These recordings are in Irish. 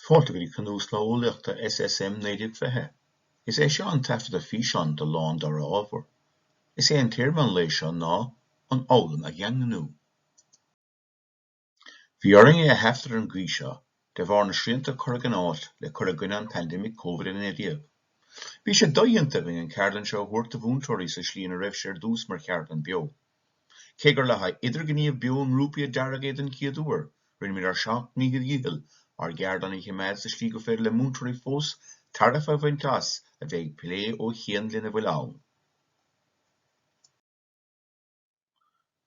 Fáilte go dtí cnuaslá Eolaíochta SSM 1920. Is é seo an taifeadadh físeáin de lá an dara ábhar. Is é an téarma an lae seo ná An Fhoghlaim a Dhaingniú. Bhí orainn é a thaifead ar an gcaoi seo de bharr na srianta a cuireadh in áit le cur i gcoinne an pandemic Covid-19. Bhí sé dodhéanta againn an ceardlann seo a thabhairt do mhúinteoirí sa slí ina raibh sé ar dtús mar cheardlann beo. Cé gur le haghaidh idirghníomh beo i ngrúpaí a dearadh é den chéad uair, rinne muid ár seacht ndícheall dhícheall ár gceardlann a choimeád sa slí go féidir le múinteoirí fós tairbhe a bhaint as a bheith ag plé ó chian lena bhfuil ann.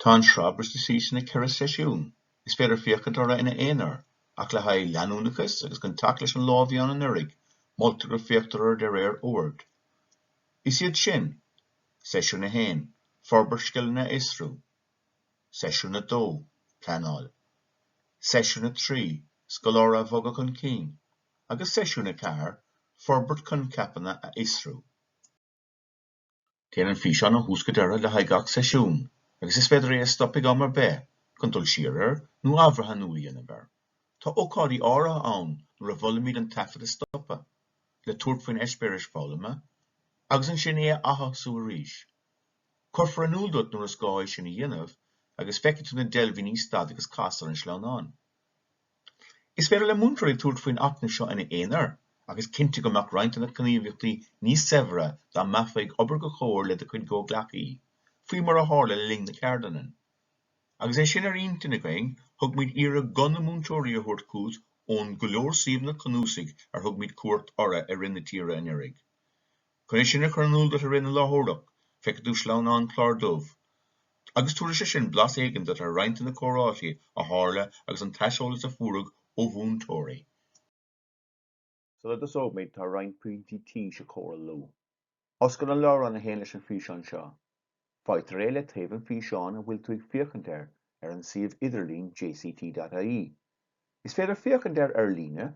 Tá an sraith briste síos ina ceithre seisiún. Is féidir féachaint orthu ina aonar, ach le haghaidh leanúnachas agus chun teacht leis an lá a bhí ann anuraidh, moltar go féachtar orthu de réir oird. Is iad sin. Seisiún 1, Forbairt Scileanna a Fhiosrú Seisiún 2, Pleanáil Seisiún 3, Scoláire a Bhogadh chun Cinn agus Seisiún 4, Forbairt Coincheapanna a Fhiosrú. Téann an físeán ó thús go deireadh le haghaidh gach seisiún agus is féidir é a stop ag am ar bith chun dul siar air nó athbhreathnú a dhéanamh air. Tá ócáidí áirithe ann nuair a mholaimid an taifead a stopadh le tabhairt faoin eispéiris foghlama agus ansin é a atosú arís. Cuirfear in iúl duit nuair is gá é sin a dhéanamh agus feicfidh tú na deilbhíní Stad agus Cas ar an sleamhnán. Is féidir le múinteoirí tabhairt faoin acmhainn seo ina aonar ach is cinnte go mbeadh roinnt de na gníomhaíochtaí níos saibhre dá mbeifeá ag obair i gcomhar le do chuid gcomhghleacaí, faoi mar a tharla le linn na ceardlainne. Agus é sin ar intinn againn, thug muid iarraidh guth na múinteoirí a thabhairt chugat ón go leor suíomhanna cnuasaigh ar thug muid cuairt orthu i rith na tíre anuraidh. Chun é sin a chur in iúl duit i rith na láithreoireacht, feicfidh tú sleamhnán clár dubh, agus tabharfaidh sé sin blas éigin duit ar roinnt de na comhráití a tharla agus an t-aiseolas a fuaireadh ó mhúinteoirí. Sula dtosóimid, tá roinnt pointí tís a chomhairliú. Oscail an leabhrán a théann leis an bhfíseán seo. Faightear é le taobh an físeáin a bhfuil tú ag féachaint air ar an suíomh idirlín jct.ie. Is féidir féachaint air ar líne,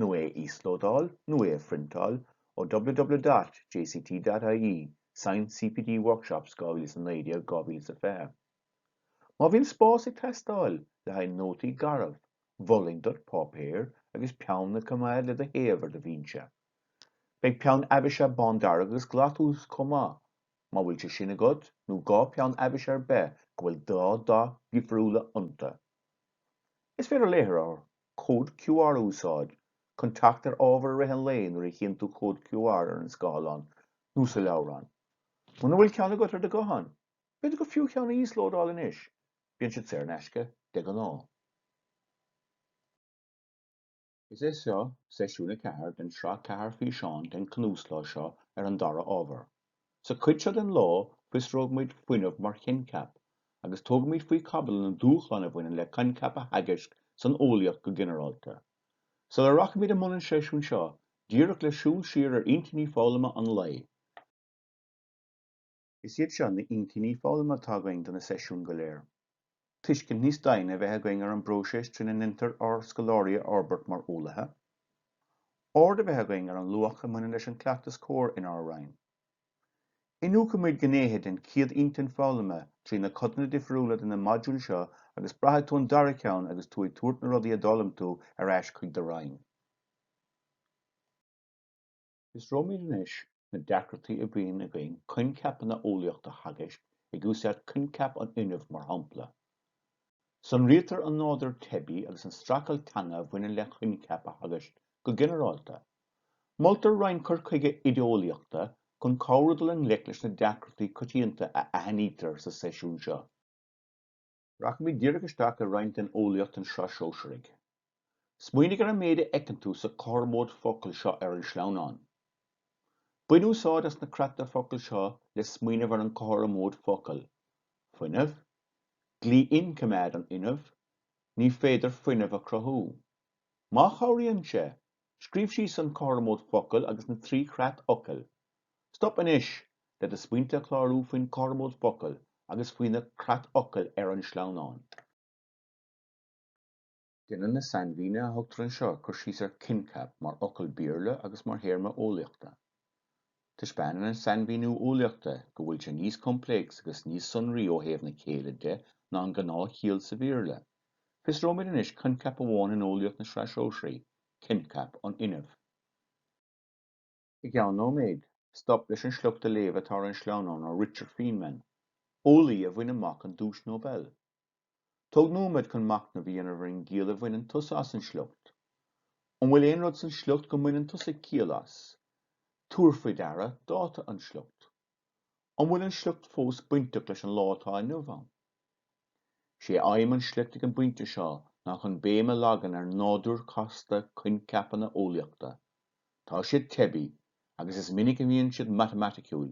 nó é a íoslódáil, nó é a phriontáil ó www.jct.ie, Science CPD Workshops 2019, 2020. Má bhíonn spás ag teastáil le haghaidh nótaí garbh, mholfainn duit páipéar agus peann a coimeád le do thaobh ar do bhínse. Beidh peann aibhsithe bándearg agus glas uait chomh maith, má bhfuil sé sin agat, nó dhá pheann aibhsithe ar bith go bhfuil dhá dath dhifriúla iontu. Is féidir léitheoir cód QR a úsáid chun teacht ar ábhar i rith an lae nuair a chíonn tú cód QR ar an scáileán nó sa leabhrán. Muna bhfuil ceann agat ar do ghuthán, B'fhéidir gur fiú cheann a íoslódáil anois, bíonn siad saor in aisce de ghnáth. Is é seo seisiún a ceathair den sraith ceathair físeán den cnuaslá seo ar an dara ábhar. Sa chuid seo den lá, fiosróidh muid fuinneamh mar choincheap, agus tógfaimid faoi chaibidil na dúshláin a bhaineann le coincheap a theagasc san eolaíocht go ginearálta. Sula rachaimid i mbun an seisiúin seo, díreach le siúl siar ar intinní foghlama an lae, Is iad seo na hintinní foghlama atá againn do na seisiúin go léir. Tuiscint níos doimhne a bheith againn ar an bpróiseas trína ndéantar ár scoláirí a fhorbairt mar eolaithe. Aird a bheith againn ar an luach a bhaineann leis an cleachtas cóir inár roinn. Iniúchfaimid gnéithe den chéad intinn foghlama trí na codanna difriúla de na modúil seo agus braithfidh tú an dara ceann agus tú ag tabhairt na rudaí a d'fhoghlaim tú ar ais chuig do roinn. Fiosróimid anois na deacrachtaí a bhíonn againn coincheapanna eolaíochta a theagasc, ag úsáid coincheap an fhuinnimh mar shampla. Sonraítear an nádúr teibí agus an streachailt teanga a bhaineann le coincheap a theagasc go ginearálta. Moltar roinnt cur chuige oideolaíochta chun cabhrú dul i ngleic leis na deacrachtaí coitianta a aithnítear sa seisiún seo. Rachaimid díreach isteach i roinnt den eolaíocht den sraith Shóisearaigh. Smaoinigh ar an méid a fheiceann tú sa chothromóid focail seo ar an sleamhnán. Bain úsáid as na creatfhocail seo le smaoineamh ar an chothromóid focal, fuinneamh, dlí inchoimeád an fhuinnimh, ní féidir fuinneamh a chruthú. Má chabhraíonn sé, Scríobh síos an cothromóid focal agus na trí chreatfhocal. Stop anois le do smaointe a chlárú faoin chothromóid focal agus faoi na creatfhocail ar an sleamhnán. Déanann na sainmhíne a thugtar anseo cur síos ar coincheap mar fhocal Béarla agus mar théarma eolaíochta. Taispeánann an sainmhíniú eolaíochta go bhfuil sé níos complex agus níos sonraí ó thaobh na céille de ná an gnáthchiall sa Bhéarla. Fiosróimid anois coincheap amháin in eolaíocht na Sraithe Sóisearaí, coincheap an fhuinnimh. I gceann nóiméid, stop leis an sliocht a léamh atá ar an sleamhnán ó Richard Feynman, eolaí a bhain amach an Duais Nobel Tóg nóiméad chun machnamh a dhéanamh ar an gciall a bhaineann tusa as an sliocht. An bhfuil aon rud san sliocht go mbaineann tusa ciall as? Tabhair faoi deara dáta an sliocht. An bhfuil an sliocht fós bainteach leis an lá atá inniu ann? Is é aidhm an sliocht ag an bpointe seo ná chun béim a leagan ar nádúr casta coincheapanna eolaíochta. Tá siad teibí, agus is minic a bhíonn siad matamaiticiúil,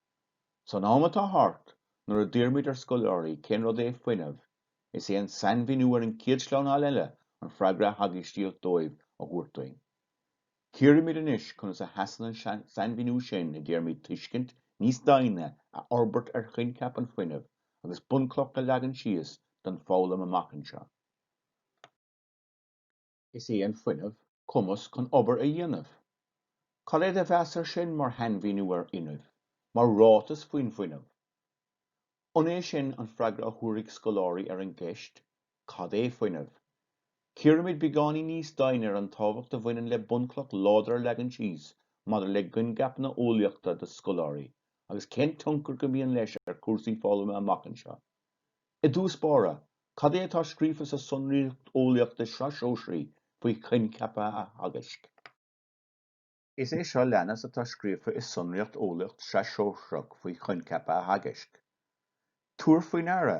San am atá thart, nuair a d'iarraimid ar scoláirí cén rud é fuinneamh, is é an sainmhíniú ar an chéad sleamhnáil eile an freagra a theagascaimis dóibh a thabhairt duinn. Cíoraimis anois conas a sheasann an sainmhíniú sin i dtéarmaí tuiscint níos doimhne a fhorbairt ar choincheap an fhuinnimh agus bunchloch a leagan síos don fhoghlaim amach anseo. Is é an fuinneamh cumas chun obair a dhéanamh. Cad é do mheas ar sin mar shainmhíniú ar fhuinneamh, mar ráiteas faoin bhfuinneamh. An é sin an freagra a thabharfaidh scoláirí ar an gceist, Cad é fuinneamh? Cíoraimis beagáinín níos doimhne ar an tábhacht a bhaineann le bunchloch láidir a leagan síos maidir le coincheapanna eolaíochta do scoláirí agus cén tionchar go mbíonn leis ar chúrsaí foghlama amach anseo. I dtús báire, cad é atá scríofa sa tsonraíocht eolaíochta Sraithe Sóisearaí faoi choincheapa a theagaisc? Is é seo leanas atá scríofa i sonraíocht eolaíocht Sraith Shóisearach faoi choincheapa a theagaisc, Tabhair faoi deara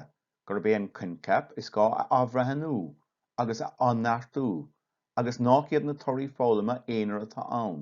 gurb é an coincheap is gá a athbhreithniú agus a athneartú agus nach iad na torthaí foghlama aonair atá ann.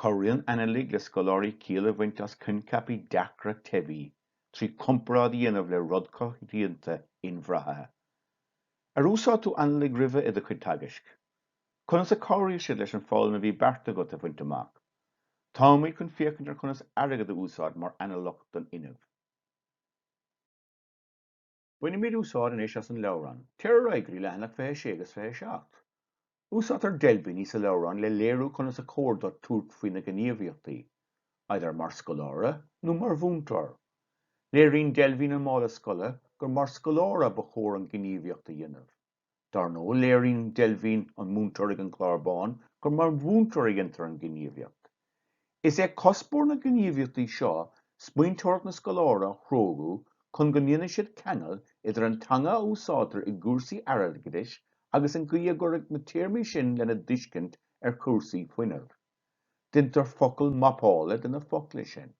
Cabhraíonn analaigh le scoláirí ciall a bhaint as coincheapaí deacra teibí trí comparáid a dhéanamh le rud coitianta inbhraite. Ar úsáid tú analaigh roimhe i do chuid teagaisc? Conas a chabhraigh siad leis an bhfoghlaim a bhí beartaithe agat a bhaint amach? Táimid chun féachaint ar chonas airgead a úsáid mar analach don fhuinneamh. Bainimid úsáid anois as an leabhrán. Téir ar aghaidh go dtí leathanach 26 agus 27. Úsáidtear deilbhíní sa leabhrán le léiriú conas is cóir duit tabhairt faoi na gníomhaíochtaí, idir mar scoláire nó mar mhúinteoir. Léiríonn deilbhín an mála scoile gur mar scoláire ba chóir an gníomhaíocht a dhéanamh. Dar ndóigh léiríonn deilbhín an múinteoir ag an gclár bán gur mar mhúinteoir a dhéantar an ghníomhaíocht. Is é cuspóir na gníomhaíochtaí seo smaointeoireacht na scoláirí a spreagadh chun go ndéanfaidh siad ceangal idir an teanga a úsáidtear i gcúrsaí airgeadais agus an gcaoi a gcuirfidh na téarmaí sin lena dtuiscint ar chúrsaí fuinnimh. Déantar focalmhapáil de na focla sin.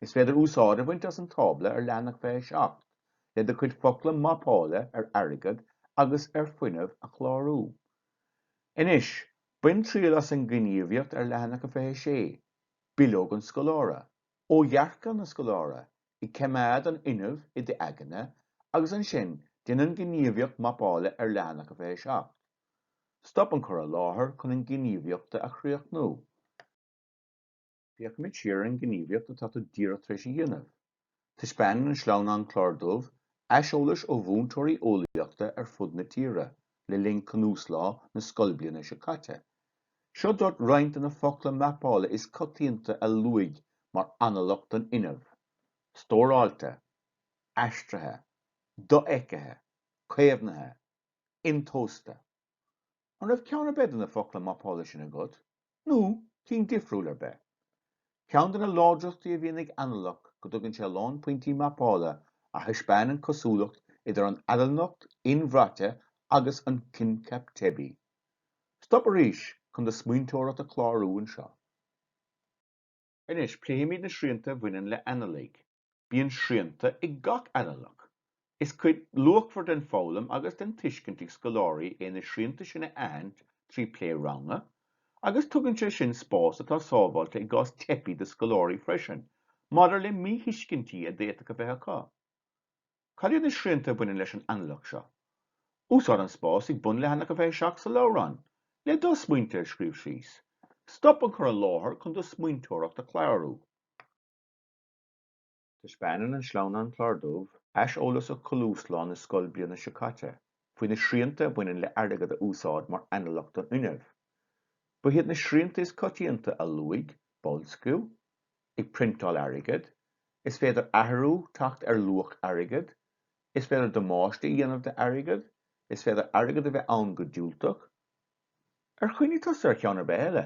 Is féidir úsáid a bhaint as an tábla ar leathanach 27 le do chuid focla mapála ar airgead agus ar fhuinneamh a chlárú. Anois, bain triail as an ghníomhaíocht ar leathanach 26, Bileog an Scoláire. Ó dhearcadh na scoláirí. Coimeád an fuinneamh i d'aigne agus ansin déan an ghníomhaíocht mapála ar leathanach 27. Stop an cur i láthair chun an ghníomhaíocht a chríochnú. Féachaimis siar ar an ngníomhaíocht atá tú díreach tar éis a dhéanamh. Taispeánann an sleamhnán clár dubh aiseolais ó mhúinteoirí eolaíochta ar fud na tíre le linn cnuaslá na scoilbliana seo caite. Seo duit roinnt de na focla mapála is coitianta a luadh mar analach don fhuinneamh, stóráilte, aistrithe, dofheicthe, caomhnaithe, intomhaiste. An raibh ceann ar bith de na focla mapála sin agat, nó cinn difriúil ar bith? Ceann de na láidreachtaí a bhíonn ag analach go dtugann sé a lán pointí mapála a thaispeánann an cosúlacht idir an analach inbhraite agus an coincheap teibí. Stop arís chun do smaointeoireacht a chlárú anseo. Anois, pléfimid na srianta a bhaineann le analaigh. Bíonn srianta ag gach analach. Is cuid luachmhar den fhoghlaim agus den tuiscint ag scoláirí é na srianta sin a aithint trí plé ranga, agus tugann sé sin spás atá sábháilte i gcás teipe do scoláirí freisin maidir le míthuiscintí a d'fhéadfadh a bheith acu. Cad iad na srianta a bhaineann leis an analach seo? Úsáid an spás ag bun leathanach a 27 sa leabhrán le do smaointe a scríobh síos. Stop an cur i láthair chun do smaointeoireacht a chlárú. Taispeánann an sleamhnán clár dubh aiseolais ó chnuaslá na scoilbliana seo caite faoi na srianta a bhaineann le airgead a úsáid mar analach don fhuinneamh. Ba iad na srianta is coitianta a luadh, boilsciú, ag priontáil airgead, is féidir athrú teacht ar luach airgead, is féidir damáiste a dhéanamh do airgead, is féidir airgead a bheith ann go diúltach. Ar chuimhnigh tusa ar cheann ar bith eile?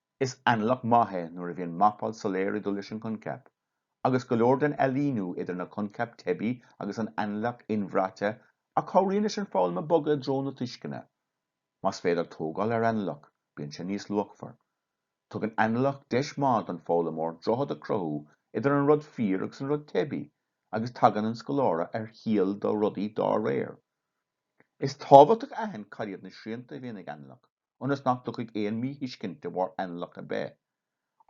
Is analach maith é nuair a bhíonn mapáil soiléir ag dul leis an coincheap, agus go leor den ailíniú idir na coincheap teibí agus an analach inbhraite a chabhraíonn leis an foghlaim a bogadh i dtreo na tuisceana. Más féidir tógáil ar analach, bíonn sé níos luachmhar. Tugann analach deis maith don fhoghlaimeoir droichead a cruthú idir an rud fíor agus an rud teibí, agus tagann an scoláire ar chiall do rudaí dá réir. Is tábhachtach a aithint cad iad na srianta a bhíonn ag analach. ionas nach dtiocfaidh aon míthuiscint de bharr analach ar bith.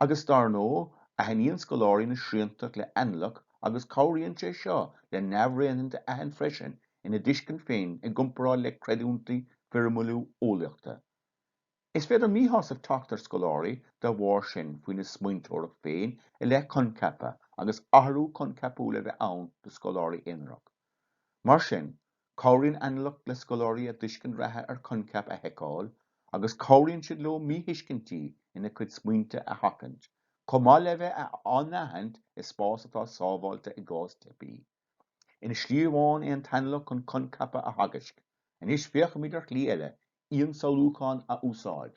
Agus dar ndóigh, aithníonn scoláirí na srianta le analach agus cabhraíonn sé seo le neamhréireanna a aithint freisin ina dtuiscint féin i gcomparáid le creidiúintí foirmiúla eolaíochta. Is féidir míshásamh teacht ar scoláirí de bharr sin faoina smaointeoireacht féin i leith coincheapa agus athrú coincheapúil a bheith ann do scoláirí aonarach. Mar sin. Cabhraíonn analach le scoláirí a dtuiscint reatha ar choincheap a sheiceáil agus cabhraíonn siad leo míthuiscintí ina gcuid smaointe a sheachaint, chomh maith le bheith á n-aithint i spás atá sábháilte i gcás teipe. Aon slí amháin é an t-analach chun coincheapa a theagasc. Anois féachaimis ar shlí eile, ionsamhlúcháin a úsáid.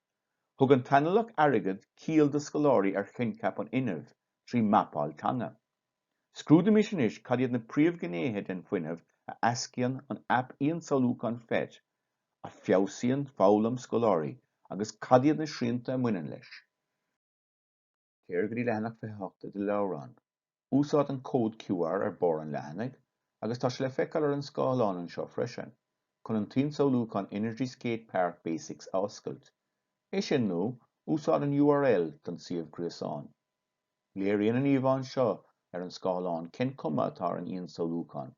Thug an t-analach airgid ciall do scoláirí ar choincheap an fhuinnimh trí mhapáil teanga. Scrúdaímis anois cad iad na príomhghnéithe den fuinneamh a éascaíonn an aip ionsamhlúcháin phet a feabhsaíonn foghlaim scoláirí agus cad iad na srianta a mbaineann leis. Téir go dtí leathanach 28 i do leabhrán. Úsáid an cód QR ar bharr an leathanaigh, agus tá sé le feiceáil ar an scáileán anseo freisin, chun an t-ionsamhlúchán Energy Skate Park Basics a oscailt. É sin nó, úsáid an url don suíomh gréasáin. Léiríonn an íomhá anseo ar an scáileán cén cuma atá ar an ionsamhlúchán.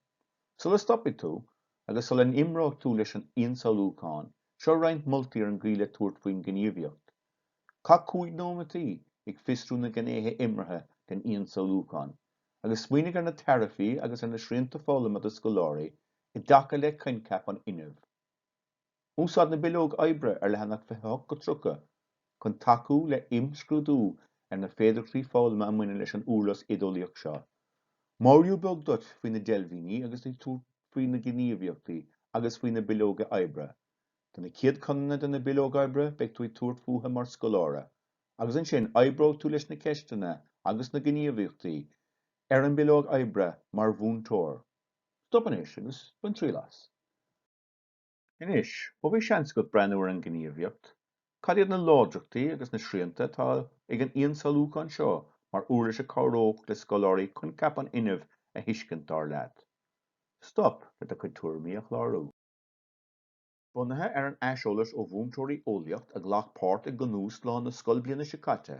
Sula stopfaidh tú, agus sula n-imreoidh tú leis an ionsamhlúchán, seo roinnt moltaí ar an gcaoi le tabhairt faoin ghníomhaíocht. Caith cúig nóiméadaí ag fiosrú na gnéithe imeartha den ionsamhlúchán agus smaoinigh ar na tairbhí agus ar na srianta foghlama do scoláirí i dtaca le coincheap an fhuinnimh. Úsáid na bileog oibre ar leathanach 28-30 chun tacú le imscrúdú ar na féidearthachtaí foghlama a mbaineann leis an uirlis oideolaíoch seo. Mar eolas beag duit faoi na deilbhíní agus faoi na gníomhaíochtaí agus faoi na bileoga oibre. Do na céad codanna de na bileoga oibre beidh tú ag tabhairt fúthu mar scoláire, agus ansin oibreoidh tú leis na ceisteanna agus na gníomhaíochtaí ar an bileog oibre mar mhúinteoir. Stop anois agus bain triail as. Anois, ó bhí seans agat breathnú ar an ghníomhaíocht, cad iad na láidreachtaí agus na srianta atá ag an ionsamhlúchán seo mar uirlis a cabhródh le scoláirí coincheap an fhuinnimh a thuiscint, dar leat? Stop le do chuid tuairimí a chlárú. Bunaithe ar an aiseolas ó mhúinteoirí eolaíocht a ghlac páirt i gcnuaslá na scoilbhliana seo caite,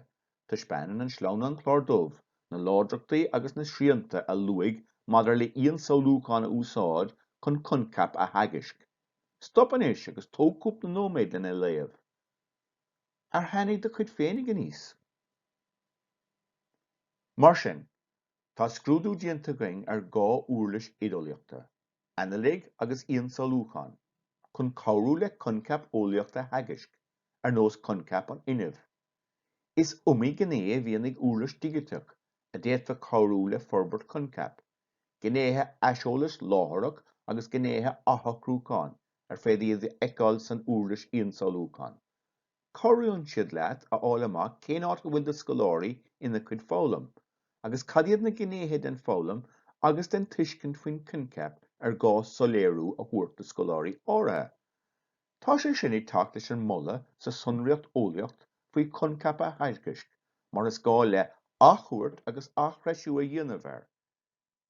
taispeánann an sleamhnán clár dubh na láidreachtaí agus na srianta a luaigh maidir le ionsamhlúchán a úsáid chun coincheap a theagasc. Stop anois agus tóg cúpla nóiméad lena a léamh. Ar tháinig do chuid féinig aníos? Mar sin, Tá scrúdú déanta againn ar dhá uirlis oideolaíochta, analach agus ionsamhlúchán, chun cabhrú le coincheap eolaíocht a theagasc, ar nós coincheap an fhuinnimh. Is iomaí gnéithe a bhíonn ag uirlis digiteach a d'fhéadfadh cabhrú le forbairt coincheap, gnéithe aiseolas láithreach agus gnéithe athshocrúcháin ar féidir iad a fheiceáil san uirlis ionsamhlúchán. Cabhraíonn siad leat a fháil amach cén áit a bhfuil do scoláirí ina gcuid foghlaim, agus cad iad na gnéithe den foghlaim agus den tuiscint faoin coincheap ar gá soiléiriú a thabhairt do scoláirí áirithe. Tá sé sin ag teacht leis an moladh sa sonraíocht eolaíocht faoi choincheap a theagasc mar is gá le athchuairt agus aththreisiú a dhéanamh air.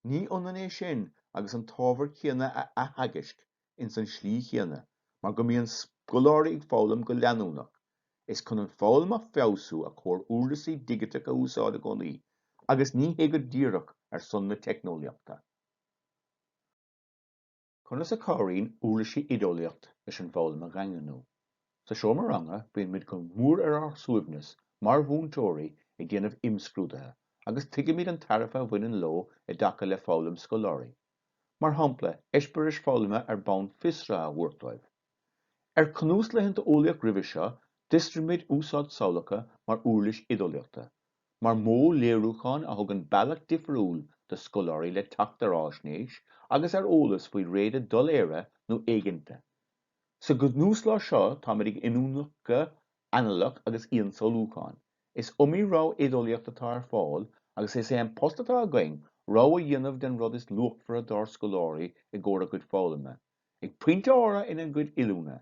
Ní hionann é sin agus an t-ábhar céanna a atheagasc ins an slí chéanna mar go mbíonn scoláirí ag foghlaim go leanúnach. Is chun an foghlaim a feabhsú a chóir uirlisí digiteacha a úsáid i gcónaí agus ní hé go díreach ar son na teicneolaíochta. Conas a chabhraíonn uirlisí oideolaíocht leis an bhfoghlaim a dhaingniú? Sa seomra ranga bíonn muid go mór ar ár suaimhneas mar mhúinteoirí ag déanamh imscrúdaithe agus tuigimid an tairbhe a bhaineann leo i dtaca le foghlaim scoláirí, mar shampla eispéiris foghlama ar bonn fiosraithe a thabhairt dóibh. Ar cnuaslaethanta eolaíocht roimhe seo d'fhiosraigh muid úsáid samhlacha mar uirlis oideolaíochta, mar mhodh léiriúcháin a thugann bealach difriúil do scoláirí le teacht ar fhaisnéis agus ar eolas faoi réada doiléire nó éiginnte. Sa gcnuaslá seo táimid ag iniúchadh analach agus ionsamhlúcháin. Is iomaí rogha oideolaíocht atá ar fáil agus is é an post atá againn rogha a dhéanamh den rud is luachmhaire dár scoláirí i gcomhair a gcuid foghlama, ag pointe áirithe ina gcuid oiliúna,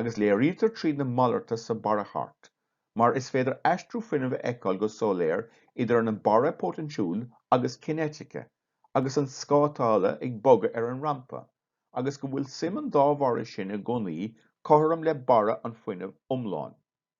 agus léirítear tríd na malartuithe sa barrachairt mar is féidir aistriú fuinnimh a fheiceáil go soiléir idir an an barra poitéinsiúil agus cinéitice agus an scátála ag bogadh ar an rampa agus go bhfuil suim an dá bharra sin i gcónaí cothrom le barra an fuinnimh iomlán.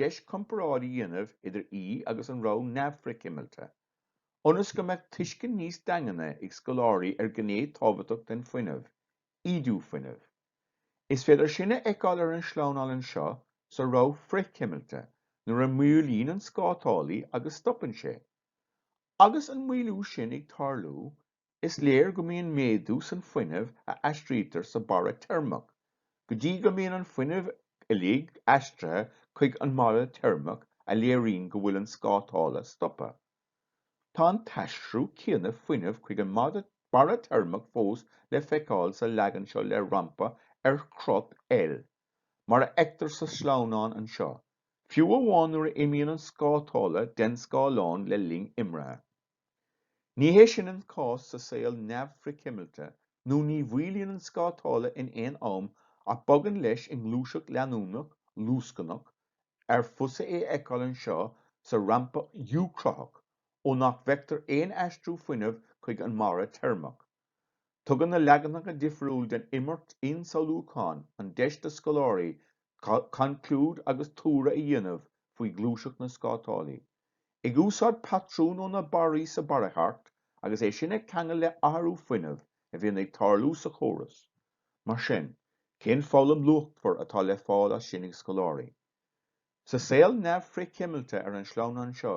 deis comparáid a dhéanamh idir í agus an rogha neamh-fhrithchuimilte, ionas go mbeadh tuiscint níos daingne ag scoláirí ar ghné tábhachtach den fuinneamh, ídiú fuinnimh. Is féidir sin a fheiceáil ar an sleamhnán anseo sa rogha frithchuimilte, nuair a maolaíonn an scátálaí agus stopann sé. Agus an maolú sin ag tarlú, Is léir go mbíonn méadú san fuinneamh a aistrítear sa barra teirmeach go dtí go mbíonn an fuinneamh uilig aistrithe chuig an mbarra teirmeach a léiríonn go bhfuil an scátála stoptha. Tá an t-aistriú céanna fuinneamh chuig an barra teirmeach fós le feiceáil sa leagan seo le rampa ar chrot L, mar a fheictear sa sleamhnán anseo, fiú amháin nuair a imíonn an scátála den scáileán le linn imrithe. Ní hé sin an cás sa saol neamh-fhrithchuimilte nó ní mhaolaíonn an scátála in aon am ach bogann leis i ngluaiseacht leanúnach, luascnach, ar fusa é a fheiceáil anseo sa rampa U-chruthach, ó nach bhfeictear aon aistriú fuinnimh chuig an mbarra teirmeach. Tugann na leaganacha difriúil den imirt ionsamhlúcháin an deis do scoláirí conclúid agus tuartha a dhéanamh faoi ghluaiseacht na scátálaí. Ag úsáid patrún ó na barraí sa barrachairt agus é sin a cheangal le athrú fuinnimh a bhíonn ag tarlú sa chóras. Mar sin, cén foghlaim luachmhar atá le fáil as sin ag scoláirí? Sa saol neamh-fhrithchuimilte ar an sleamhnán seo,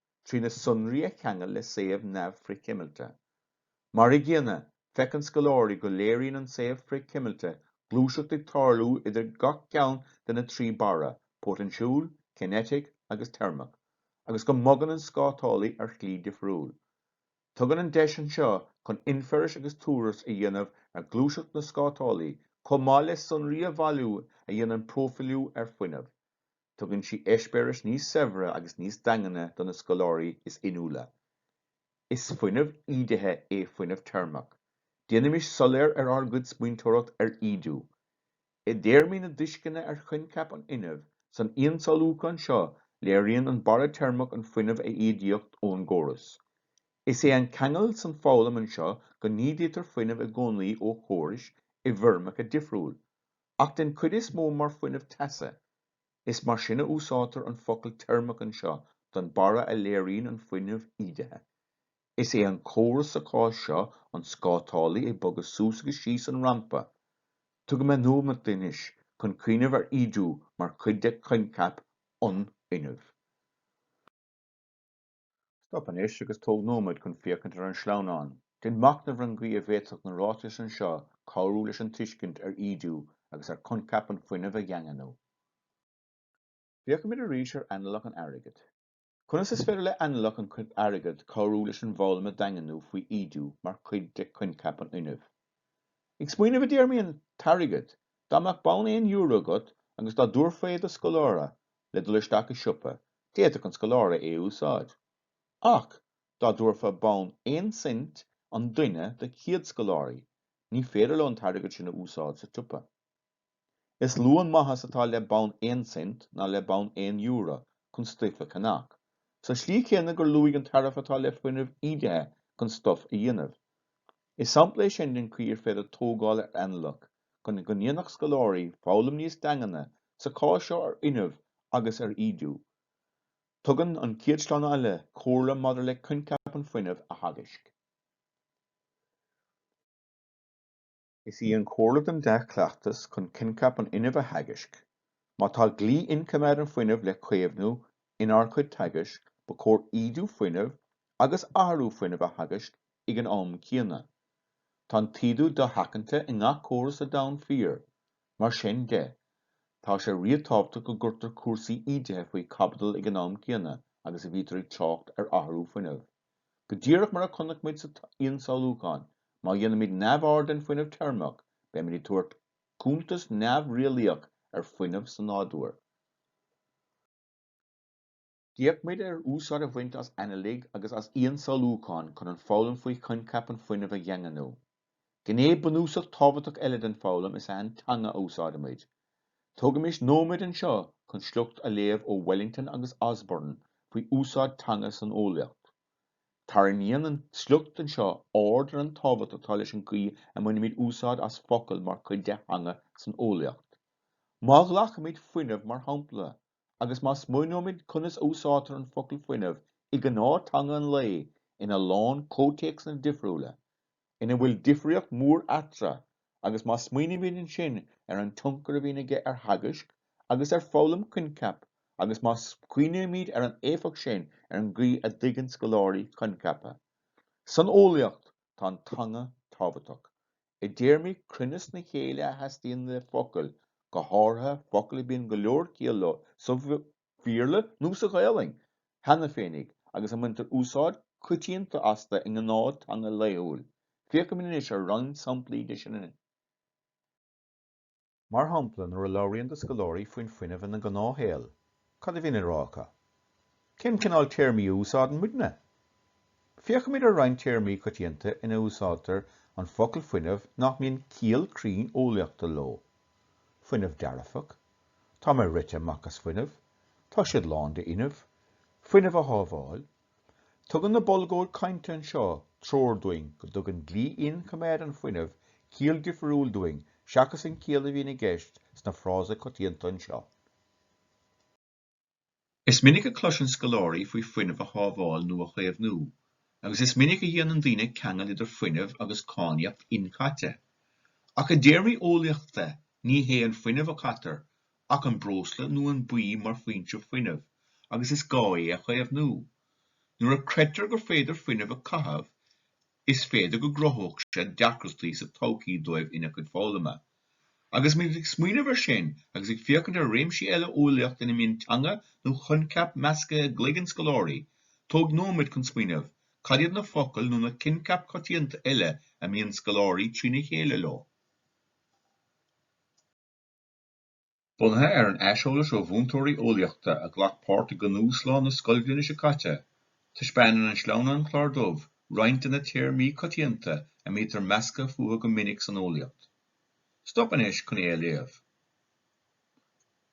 trí na sonraí a cheangal le suíomh neamh-fhrithchuimilte. Mar i gcéanna, feiceann scoláirí go léiríonn an suíomh frithchuimilte gluaiseacht ag tarlú idir gach ceann de na trí barra, póitinsiúil, cinéitic agus teirmeach, agus go mbogann an scátálaí ar shlí difriúil. Tugann an deis anseo chun infeiris agus tuartha a dhéanamh ar ghluaiseacht na scátálaí, chomh maith le sonraí a bhailiú a dhéanann próifiliú ar fuinneamh, Tugann sí eispéiris níos saibhre agus níos daingne do na scoláirí is inniúla. Is fuinneamh ídithe é fuinneamh teirmeach. Déanaimis soiléir ar ár gcuid smaointeoireacht ar ídiú. I dtéarmaí na dtuisceana ar choincheap an fhuinnimh, san ionsamhlúchán seo léiríonn an barra teirmeach an fuinneamh a ídíodh ón gcóras. Is é an ceangal san foghlaim anseo go n-ídítear fuinneamh i gcónaí ó chórais i bhfoirmeacha difriúil, ach den cuid is mó mar fuinneamh teasa. Is mar sin a úsáidtear an focal teirmeach anseo don barra a léiríonn an fuinneamh ídithe. Is é an córas sa chás seo an scátálaí ag bogadh suas agus síos an rampa. Tógaimis nóiméad anois chun cuimhneamh ar ídiú mar chuid de choincheap an fhuinnimh. Stop anois agus tóg nóiméad chun féachaint ar an sleamhnán. Déan machnamh ar an gcaoi a bhféadfadh na ráitis anseo cabhrú leis an tuiscint ar ídiú agus ar choincheap an fuinnimh a dhaingniú. Féachfaimid arís ar analach an airgid. Conas is féidir le analach an airgid cabhrú leis an bhfoghlaim a dhaingniú faoi ídiú mar chuid de choincheap an fhuinnimh? Ag smaoineamh i dtéarmaí an t-airgead, dá mbeadh bonn aon euro agat agus dá dtabharfá é do scoláire le dul isteach i siopa, D'fhéadfadh an scoláire é a úsáid, ach dá dtabharfá bonn aon cent an duine de chéad scoláirí, ní féidir leo an t-airgead sin a úsáid sa tsiopa. Is lú an maitheas atá le bonn aon cent ná le bonn aon euro chun stuif a cheannach, sa slí chéanna gur lú an tairbhe atá le fuinneamh ídithe chun stuif a dhéanamh. Is sampla é sin den chaoi ar féidir tógáil ar analach chun go ndéanfadh scoláirí foghlaim níos daingne sa chás seo ar fhuinneamh agus ar ídiú. Tugann an chéad sleamhnán eile comhairle maidir le coincheap an fuinnimh a theagaisc. Is í an chomhairle don dea-chleachtas chun coincheap an fhuinnimh a theagaisc Má tá dlí imchoimeád an fuinneamh le caomhnú inár chuid teagaisc, ba chóir ídiú fuinneamh agus athrú fuinneamh a theagaisc ag an am céanna. Tá an t-ídiú dosheachanta i ngach córas sa domhan fíor. Mar sin de, tá sé ríotábhachtach go gcuirtear cúrsaí ídithe faoi chaibidil ag an am céanna agus a bhítear ag trácht ar athrú fuinneamh. Go díreach mar a chonaic muid sa ionsamhlúchán, má dhéanaimid neamhaird den fuinneamh teirmeach, beimid ag tabhairt Cuntas neamh-eolaíoch ar fuinneamh sa nádúr. D'fhéach muid ar úsáid a bhaint as analacha agus as ionsamhlúcháin chun an foghlaim faoi choincheap an fuinnimh a dhaingniú. Gné bunúsach tábhachtach eile den foghlaim is an teanga a úsáidimid. Tógaimis nóiméad anseo chun sliocht a léamh ó Wellington agus Osborne faoi úsáid teanga san eolaíocht. Tarraingíonn an sliocht seo aird ar an tábhacht atá leis an gcaoi a mbainimid úsáid as focail mar chuid de theanga san eolaíocht. Má ghlacaimid 'fuinneamh' mar shampla, agus má smaoinímid conas a úsáidtear an focal 'fuinneamh' i gnáth-teanga an lae ina lán comhthéacsanna difriúla, ina bhfuil difríocht mhór eatra agus má smaoinímid ansin ar an tionchar a bhíonn aige ar theagasc agus ar foghlaim coincheap agus má smaoinímid ar an éifeacht sin ar an gcaoi a dtuigeann scoláirí coincheapa san eolaíocht tá an teanga tábhachtach i dtéarmaí cruinneas na céille a theastaíonn le focail go háirithe focail a bíonn go leor ciall leo sa Bhéarla nó sa Ghaelainn cheana féinig agus a mbaintear úsáid choitianta astu i ngnáth-theanga laethúil. Féachfaimid anois ar roinnt samplaí de sin. Mar shampla, nuair a labhraíonn do scoláirí faoin fuinneamh ina ngnáthshaol, cad a bhíonn le rá acu? Cén cineál téarmaí a úsáideann muidne? Féachfaimid ar roinnt téarmaí coitianta ina n-úsáidtear an focal fuinneamh nach mbíonn ciall cruinn eolaíochta leo, fuinneamh dearfach, Tá mé rite amach as fuinneamh, tá siad lán de fhuinneamh, fuinneamh a shábháil. Tugann na bolgóidí cainte seo treoir dúinn go dtugann dlí imchoimeád an fhuinnimh ciall difriúil dúinn seachas an chiall a bhíonn i gceist sna frásaí coitianta seo. Is minic a cloiseann scoláirí faoi fuinneamh a shábháil nó a chaomhnú, agus is minic a dhéanann daoine ceangal idir fuinneamh agus cáinníocht inchaite. Ach i dtéarmaí eolaíochta, ní hé an fuinneamh a chaitear, ach an breosla nó an bia mar foinse fuinnimh, agus is gá é a chaomhnú. Nuair a chreidtear gur féidir fuinneamh a chaitheamh, Is féidir go gcruthódh sé deacrachtaí sa todhchaí dóibh ina gcuid foghlama. Agus muid ag smaoineamh ar sin agus ag féachaint ar réimsí eile eolaíochta ina mbíonn teanga nó coincheapa measctha i gcloigeann scoláirí, tóg nóiméad chun smaoineamh, cad iad na focail nó na coincheapa coitianta eile a mbíonn scoláirí trína chéile leo? Bunaithe ar an aiseolas ó mhúinteoirí eolaíochta a ghlac páirt i gcnuaslá na scoilbhliana seo caite, taispeánann an sleamhnán clár dubh roinnt de na téarmaí coitianta a mbítear measctha fúthu go minic san eolaíocht. Stop anois chun é a léamh.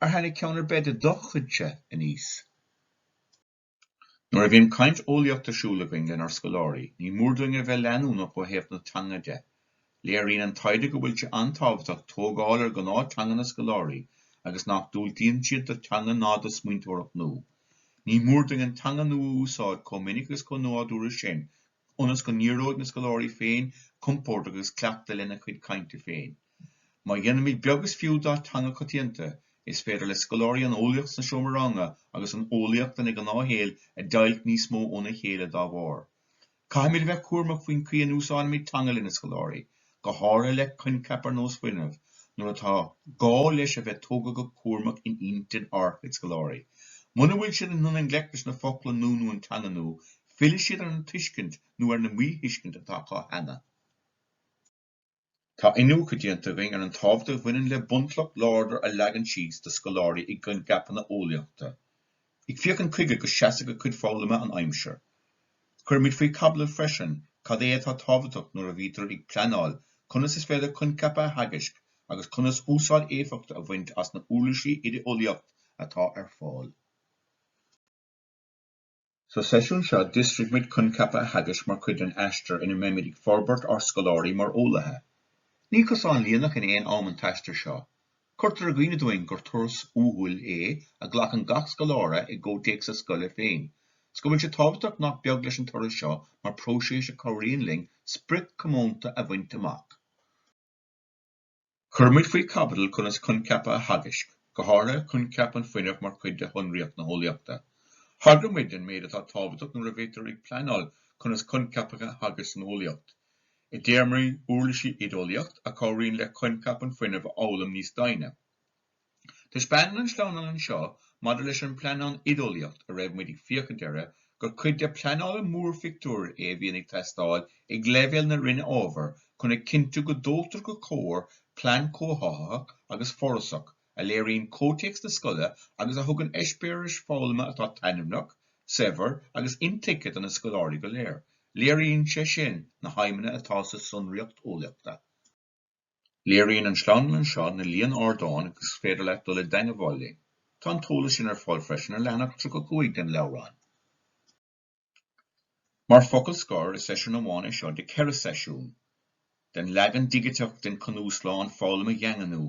Ar tháinig ceann ar bith de do chuidse aníos? Nuair a bhíonn caint eolaíocht ar siúl againn lenár scoláirí, ní mór dúinn a bheith leanúnach ó thaobh na teanga de. Léiríonn an taighde go bhfuil sé an-tábhachtach tógáil ar ghnáth-theanga na scoláirí agus nach diúltaíonn siad do theanga ná do smaointeoireacht nua. Ní mór dúinn an teanga nua a úsáid chomh minic agus chomh nádúrtha sin go ionas go n-éireoidh na scoláirí féin compordach agus cleachta lena chuid cainte féin. Má dhéanaimid beag is fiú dá teanga coitianta, is féidir le scoláirí an eolaíocht sna seomra ranga agus an eolaíocht ina ngnáthshaol a deighilt níos mó óna chéile dá bharr. Caithfimid a bheith cúramach faoin chaoi a n-úsáidimid teanga lena scoláirí go háirithe le coincheap ar nós fuinneamh, nuair atá gá leis a bheith tógtha go cúramach in intinn ár chuid scoláirí. Muna bhfuil siad in ann i ngleic leis na focla nua nó an teanga nua, fillfidh siad ar an tuiscint nó ar na míthuiscint atá acu cheana. Tá iniúchadh déanta againn ar an tábhacht a bhaineann le bunchloch láidir a leagan síos do scoláirí i gcoincheapanna eolaíochta. Ag féachaint chuige go seasfaidh a gcuid foghlama an aimsir. Cuirimid faoi chaibidil freisin cad é atá tábhachtach nuair a bhítear ag pleanáil conas is féidir coincheapa a theagaisc agus conas úsáid éifeachtach a bhaint as na huirlisí oideolaíocht atá ar fáil. Sa seisiún seo d'fhiosraigh muid coincheapa a theagaisc mar chuid den aistear ina mbeimid ag forbairt ár scoláirí mar eolaithe. Ní cosán líneach in aon am an t-aistear seo. Cuirtear i gcuimhne dúinn gur turas uathúil é a ghlacann gach scoláire i gcomhthéacs a scoile féin, 's go bhfuil sé tábhachtach nach beag leis an turas seo mar próiseas a chabhraíonn linn sprioc comónta a bhaint amach. Chuir muid faoi chaibidil conas coincheapa a theagaisc, go háirithe coincheap an fuinnimh mar chuid de shonraíocht na heolaíochta. Thagraigh muid den méid atá tábhachtach nuair a bhítear ag pleanáil conas coincheapa a theagasc san eolaíocht. I dtéarmaí uirlisí oideolaíocht a chabhraíonn le coincheap an fuinnimh a fhoghlaim níos doimhne. Taispeánann an sleamhnán anseo maidir leis an bpleanáil oideolaíocht a raibh muid ag féachaint uirthi gur cuid de pleanála mórphictiúir é a bhíonn ag teastáil ag leibhéal na Roinne Ábhair chun a chinntiú go dtógtar go cóir plean comhtháthaithe agus forásach a léiríonn comhthéacs na scoile agus a thugann eispéiris foghlama atá taitneamhach, saibhir agus intuigthe do na scoláirí go léir. Léiríonn sé sin na haidhmeanna atá sa tsonraíocht eolaíochta. Léiríonn an sleamhnán seo na líon ardáin agus is féidir leat dul i dteagmháil linn. Tá an t-eolas sin ar fáil freisin ar leathanach tríocha a cúig den leabhrán. Mar focal scor, is seisiún amháin é seo de 4 seisiún den leagan digiteach den cnuaslá an foghlama a dhaingniú,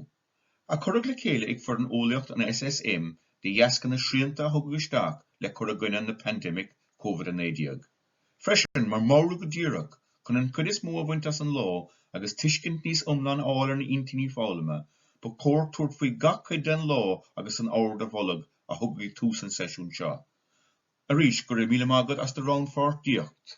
a cuireadh le chéile ag foireann Eolaíocht an SSM de dheasca na srianta a thugadh isteach le cur i gcoinne na pandemic COVID-19. Freisin, mar mheabhrú go díreach chun an cuid is mó a bhaint as an lá agus tuiscint níos iomlán a fháil ar na intinní foghlama, ba chóir tabhairt faoi gach cuid den lá agus an ord a mholadh a thugadh ag tús an seisiún seo. Arís, go raibh míle maith agat as do rannpháirtíocht.